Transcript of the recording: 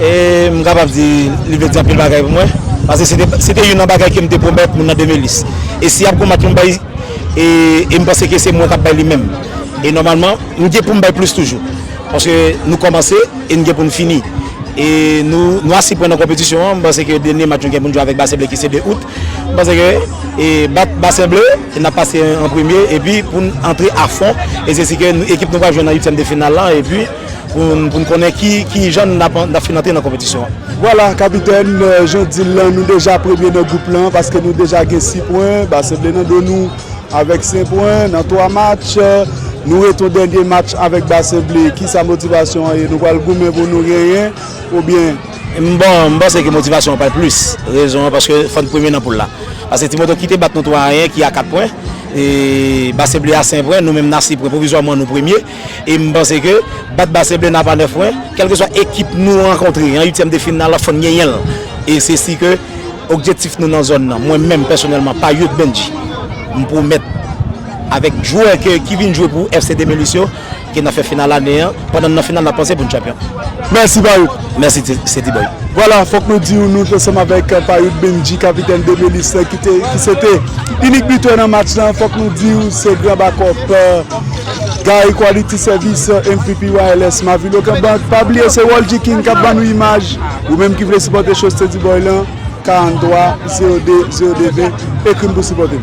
E m kapab di li vle di anpil bagay pou mwen. Pase se te youn nan bagay ke m te pwomèt moun nan Demelis. E si y ap konbat pou m bay, e m panse ke se mwen k ap bay li menm. E nòmalman, m gen pou m bay plis toujou. Paske nou kòmanse e n gen pou n fini. E nou a si pwen nan konpetisyon an. M panse ke dènye match nou gen pou n jwe avèk Bassin Bleu ki se 2 out. M panse ke e bat Bassin Bleu, e n ap pase an premye. E pi pou n antre a fon. E se si ke ekip nou pral jwenn nan uityèm de final lan. E pi. pou n konnen ki jan n ap fin antre nan konpetisyon an. Vwala kapitèn, jan w di l lan nou deja premye nan gwoup lan paske nou deja gen 6 pwen, ba se ble nan do nou avèk 5 pwen nan 3 match. Nou rete yon dènye match avèk ba se ble, kisa motivasyon an ye? Nou pral goumen pou nou genyen oubyen? M panse ke motivasyon an pral plis, rezon an paske fò n premye nan poul la. Paske Ti Moton ki te bat nou 3 a 1 ki a 4 pwen, ba se ble a 5 pwen, nou menm n a 6 pwen, pwovizwaman nou premye. e m panse ke bat Base Ble nap a 9 pwen, kèlkeswa ekip nou rankontre an 8 tièm de final la fòn genyen l, e se si ke okjektif nou nan zòn nan mwen menm pèsonèlman pa Youth Bendji m pwomèt avèk jwè ke ki vin jwe pou FC 2008 yo ke nap fè final ane an pandan n nan final nap panse pou n chanpyon. Mèsi pa ou. Mèsi se T-boy. Vwala fòk nou diw nou t ansanm avèk Payout Bendji kapitèn Demelis lan ki se te inik bitè nan match lan fòk nou diw se gran bakòp Gary Quality Service mvp wireless Mavil Okebank pa bliye se Roldy King kap ban nou imaj ou menm ki vle sipòte show se T-boy lan 43 02 02 20 ekrim pou sipòtem.